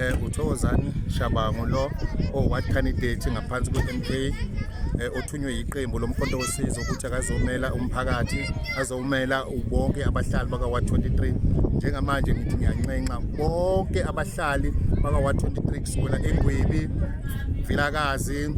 eh uThokozani Shabangu lo oward candidate ngaphansi kweMK eh othunywe yiqembu lomkhonto wosizo ukuthi akazomela umphakathi azomela ubonke abahlali baka 123 njengamanje ngithi ngiyanxenxa bonke abahlali baka 123 kusukela eNgwebi Vilakazi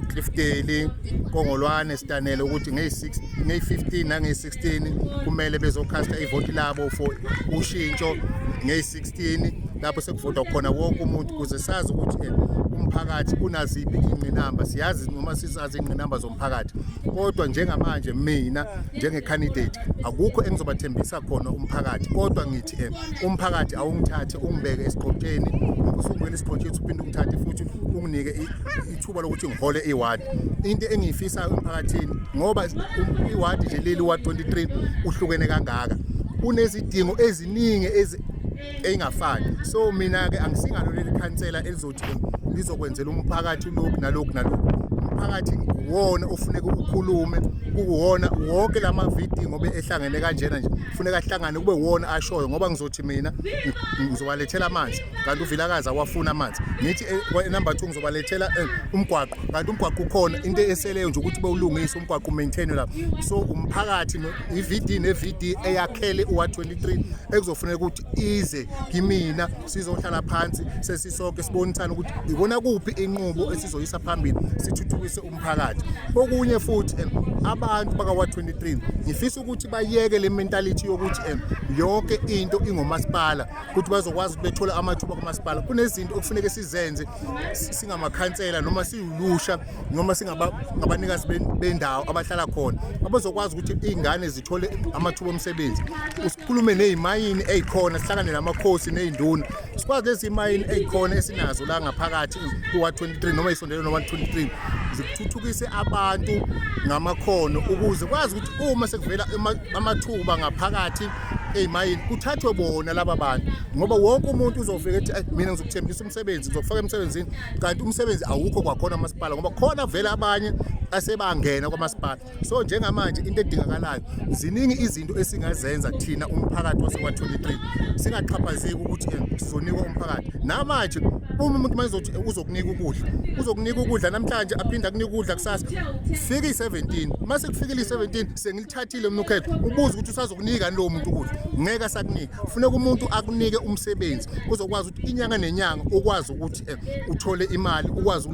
Clifftdale Kongolwane Stanele ukuthi ngey 6 ngey 15 nange 16 kumele bezokhasta ivoti labo for ushintsho ngey-16 lapho sekuvotwa khona wonke umuntu ukuze sazi ukuthi eh, umphakathi unaziphi ingqinamba siyazi noma sisazi ingqinamba zomphakathi kodwa njengamanje mina njengecandidate akukho engizobathembisa khona umphakathi kodwa ngithi eh, umphakathi awungithathe ungibeke esiqotsheni usukwela isiqotsheni uphinde ungithathe futhi unginike ithuba lokuthi ngihole iward into engiyifisayo emphakathini ngoba um, iward nje leli wa 23 uhlukene kangaka unezidingo eziningi eyingafani so mina ke angisingalo leli khansela elizothi lizokwenzela umphakathi lokhu nalokhu nalokhu umphakathi uwona ofuneka ukukhulume kuwona wonke la mavidi ngoba ehlangene kanjena nje kufuneka ahlangane kube wona ashoyo ngoba ngizothi mina ngizobalethela amanzi kanti uvilakazi awafuni amanzi ngithi eh, number two ngizobalethela eh, umgwaqo kanti umgwaqo ukhona into eseleyo nje ukuthi bewulungise umgwaqo umaintainwe lapho so umphakathi i-vd ne-vd eyakhele uwa-23 ekuzofuneka ukuthi ize kimina sizohlala phansi sesisonke sibonisane ukuthi ikona kuphi inqubo esizoyisa phambili sithuthukise umphakathi okunye futhi eh, abantu bakawa-23 ngifisa ukuthi bayeke le mentality yokuthi yonke into ingomasipala ukuthi bazokwazi ukuthi bethole amathuba kumasipala kunezinto okufuneke sizenze singamakhansela noma siwulusha noma singabanikazi bendawo abahlala khona abazokwazi ukuthi iy'ngane zithole amathuba omsebenzi sikhulume ney'mayini ey'khona sihlangane namakhosi ney'nduna sikwazi lezi mayini ey'khona esinazo la ngaphakathi kuwa-23 noma isondelo noma-23 zikuthuthukise abantu ngamakhono ukuze kwazi ukuthi uma sekuvela amathuba ngaphakathi eyimayini kuthathwe bona laba bantu ngoba wonke umuntu uzofika ethi mina ngizokuthembisa umsebenzi ngizokufaka emsebenzini kanti umsebenzi awukho kwakhona amasipala ngoba khona vele abanye asebangena kwamasipala so njengamanje into edingakalayo ziningi izinto esingazenza thina umphakathi wase-123 singaxhaphazeki ukuthi eh, sizonikwa umphakathi namanje uma umuntu manje uzothi uzokunika ukudla uzokunika ukudla namhlanje aphinde akunika ukudla kusasa fika i-17 uma sekufikile i-17 sengilithathile mina ukhetho ubuza ukuthi usazokunika lowo muntu ukuthi ngeke asakunika funeka umuntu akunike umsebenzi uzokwazi ukuthi inyanga nenyanga ukwazi ukuthi eh, uthole imali ukwazi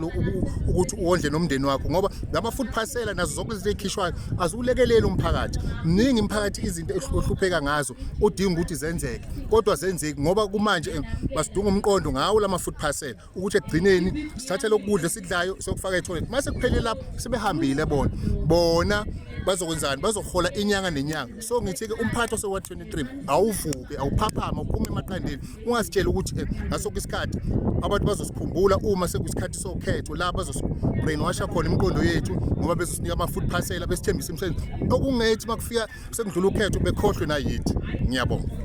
ukuthi uwondle nomndeni wakho ngoba lama food parcela nazo zonke izinto ezikhishwayo aziwulekeleli umphakathi mningi imphakathi izinto ehlupheka ngazo udinga ukuthi zenzeke kodwa zenzeki ngoba kumanje eh, basidunga umqondo ngawo lama food parcela ukuthi ekugcineni sithathe lokudla esikudlayo sokufaka etoilet mase kuphele lapho sebehambile bona bona bazokwenzani bazohola inyanga nenyanga so ngithi ke umphathi osewa 23 awuvuke awuphaphama uphume emaqandeni ungasitshela ukuthi eh, ngasonke isikhathi abantu bazosikhumbula uma sekuyisikhathi sokhetho la bazosi-brainwasha khona imiqondo yethu ngoba bezosinika ama-food parcela besithembisa imisebenzi okungethi uma kufika sekudlula ukhetho bekhohlwe nayithi ngiyabonga